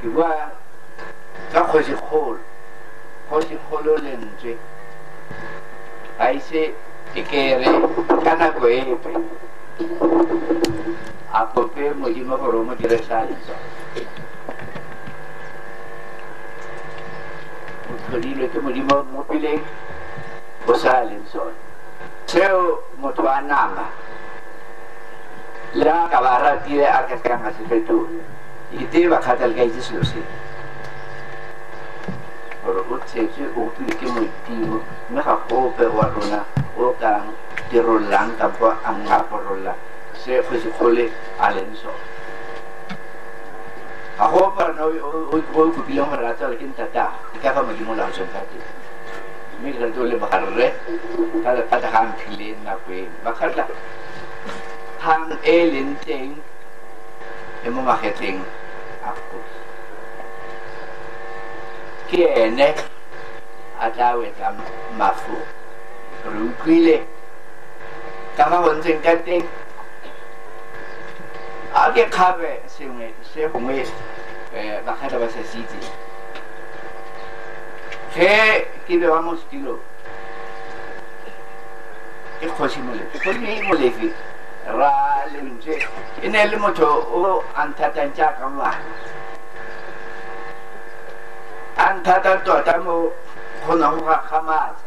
ke bua ka kgosigolo kgosigolo lentswe a ise ke kere ka nako epe a kope modimo gore o mo dire sa letswa O tlhodilwe ke Modimo o mmopile o sa a leng sone. Seo motho wa nama le a ka ba ratile a ka sekang a se fetola. Ke tee ba kgatha le ka itse selo se. Gore o tshetswe o utlwile ke Modimo mme ga gope wa rona o kang dirollang kampo a ngaporolla se kgosikgole a leng sone. ga go parana o kopileng gore a tsala ke ntata e ka fa modimo la tsweng ka teng mme ke rate o le bagarre ka lephata ga mphile nako eno bakgatla phang e e leng teng e mo magetleng a kgosi ke ene a tla wetsang mafoko re utlwile ka fa bontseng ka teng a ke kgabe sengwe se gongwe um bakgatla ba sa se itse ge ke be wa mo setilo ke kgosi molefi gomme molefi ra lentswe e ne le motho o a nthatang jaaka ngwana a nthata tota mo go ne go gakgamatsa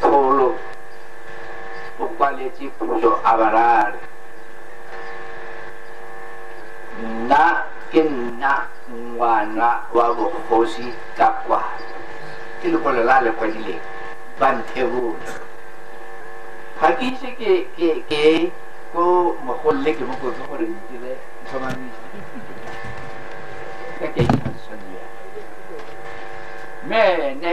solo ukwalie chipuyo abarare na ke nna ngwana wa bogosi ka kwa ke lekwalo la le kwadileng ba nthebole ga ke ise ke ke ke ko mogolole ke mokotse gore ntire tlhomamisa ka ke mme ene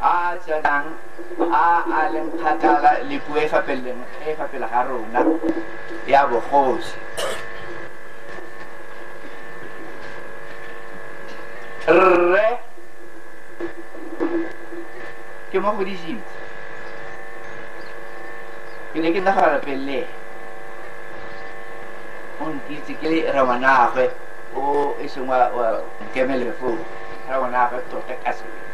a a tswelang a a leng kgakala le puo e fa pele ga rona ya bogosi rre ke mo godisitse ke ne ke nagana pele o nkitse ke re ngwanagwe o e seng wa nkemelefoo ra ngwanagwe tota ka sebe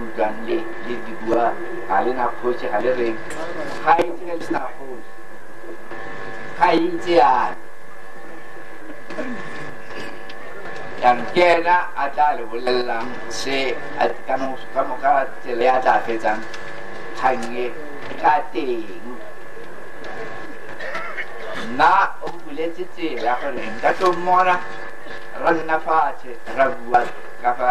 utlwang le le di bua ga le na kgosi ga le reng ga e ntse le sa kgosi ga e ntse yana yang ke ena a tla le bolelelang se a ka mo- ka mo- ka tsela ya tla fetsang kgange ka teng nna o buletse tsela gore nka tlo mmona ra nna fatshe ra bua ka fa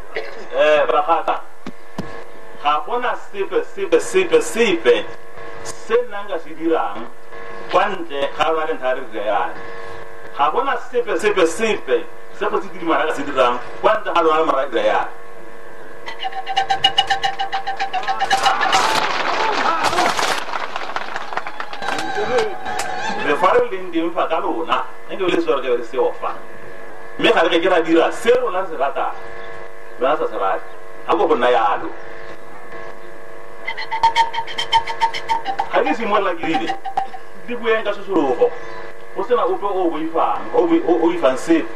Eh, bagaka ga gona sepe sepe sepe sepe se nna nka se dirang kwa ntle ga lona le nthare re yana ga gona sepe sepe sepe se go se kidimana ka se dirang kwa ntle ga lona le mara re yana le fa re leng teng fa ka lona nke le sore ke be re seofa mme ga re ke ke ra dira se rona se ratang rona sa se rate ga bo go nna yalo ga ke simolola ke rile di bueng ka sesologo go sena ope o o boifang o boi- o- o ifang sepe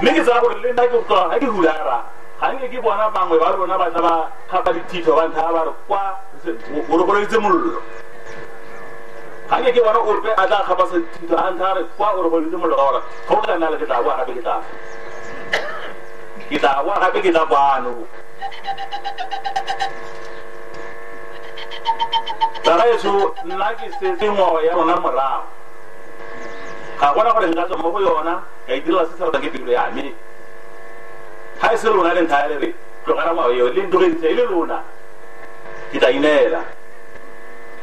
mme ke tsaya gore le nna ke tloga ga ke hulara ga nke ke bona bangwe ba rona ba tla ba kgapa dithitho ba ntlha ba re kwa o re goleditse mollo ga nke ke bona ope a tla kgapa sethito a ntlha re kwa gore go le mollo ka gore ga o ka nna le ke tla boa gape ke tla ke tla boa gape ke tla kwano tsaraetso nna ke setse ngwao ya rona morago ga gona gore nka tswa mo go yona ka itirela se se ratang ke pelo ya me ga e se lona le ntlha ya lere tlogela ngwao eo le ntogeditse e le lona ke tla ineela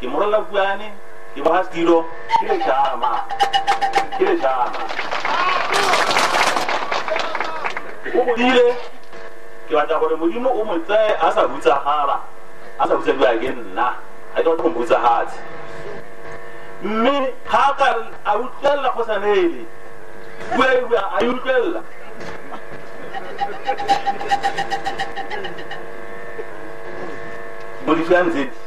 ke morolla kuane ke boga setilo ke lejama ke lejama o godile ke batla gore modimo o mo tseye a sa butsagala a sa butsadiwa ke nna a ke batla go mbutsagatse mme ga ka a utlwelela go sa neele bua e bua a e utlwelela mo ditlhang tse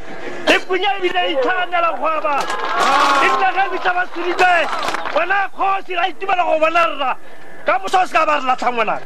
e punya ebile e itshwanela kgwaba e nna ge bitla ba seditse wena kgosi ra itumela go bona rra ka motho o se ka ba re latlhang ngwanaka